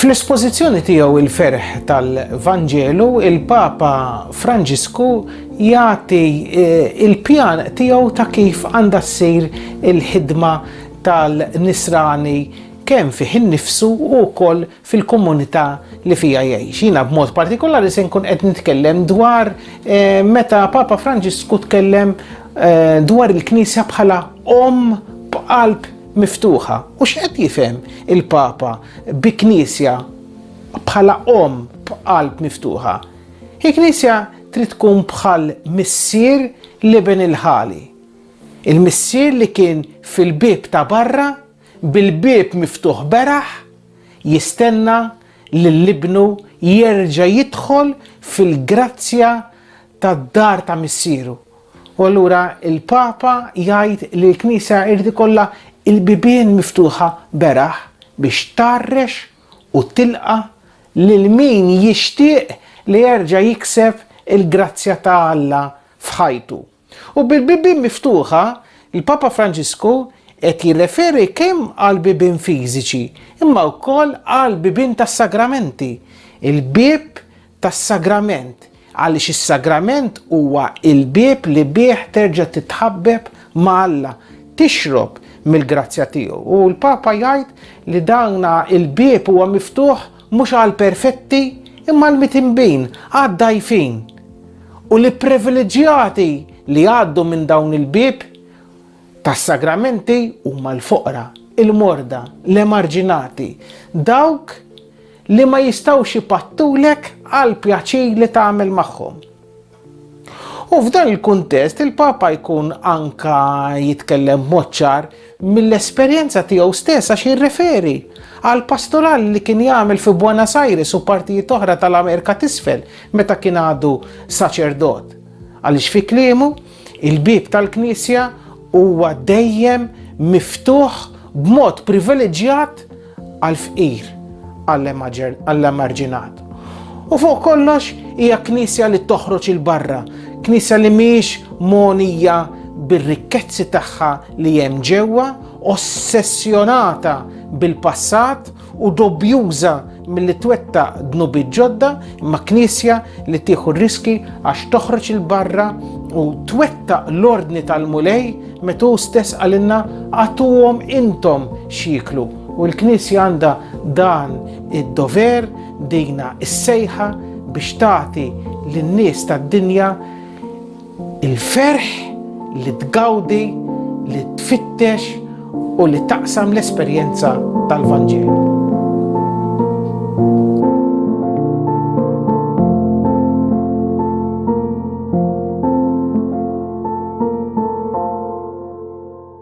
Fl-espożizzjoni tiegħu Il-Ferħ tal-Vanġelu, il-Papa Franġisku jagħti l-pjan tiegħu ta' kif għandha ssir il-ħidma tal-nisrani kemm fih innifsu u wkoll fil-komunità li fiha jgħix. Jiena b'mod partikolari se nkun qed nitkellem dwar meta Papa Franġisku tkellem dwar il-Knisja bħala omm b'qalb miftuħa. U x'qed jifhem il-Papa bi Knisja bħala omm b'qalb miftuħa? Il-Knisja trid tkun bħal missier l-iben il-ħali. Il-missier li kien fil-bieb ta' barra, bil-bieb miftuħ beraħ, jistenna lil ibnu jerġa' jidħol fil-grazzja tad-dar ta' missieru. U allura il-Papa jgħid li l-Knisja irid ikollha l-bibien miftuħa beraħ biex tgħarrex u tilqa' lil min jixtieq li jerġa' jikseb il-grazzja ta' Alla f'ħajtu. U bil-bibien miftuħa, il-Papa Franġisku qed jirreferi kemm għall-bibien fiżiċi imma wkoll għall-bibien tas-sagramenti, il-bieb tas-sagrament, għaliex is-sagrament huwa l-bieb li bih terġa' titħabbeb ma' Alla, tixrob mill-grazzja tiegħu. U l-Papa jgħid li dan il-bieb huwa miftuħ mhux għall-perfetti imma għall-mitinbin, għad-dgħajfin. U li privileġġjati li jgħaddu minn dawn il-bieb tas-sagramenti huma l-foqra, il-morda, l-emarġinati, dawk li ma jistgħux ipattulek għall-pjaċir li tagħmel magħhom. U f'dan il-kuntest il-Papa jkun anka jitkellem b'mod ċar mill-esperjenza tiegħu stess għax jirreferi għal pastoral li kien jagħmel fi Buenos Aires u partijiet oħra tal-Amerika t'isfel meta kien għadu saċerdot. Għaliex fi kliemu, Il-bieb tal-Knisja huwa dejjem miftuħ b'mod privileġġjat għall-fqir, għall-emarġinat. U fuq kollox hija Knisja li toħroġ il barra, Knisja li mhijiex mogħnija bir-rikkezzi tagħha li hemm ġewwa, ossessjonata bil-passat, u dobjuża milli twetta dnubi ġodda imma knisja li tieħu riski għax toħroġ il-barra u twetta l-ordni tal-mulej metu stess għalinna għatuhom intom xieklu. U l-knisja għandha dan id-dover, dina is-sejħa biex tagħti lin-nies tad-dinja Il-ferħ li tgawdi, li tfittex u li taqsam l-esperjenza tal-Vanġelu.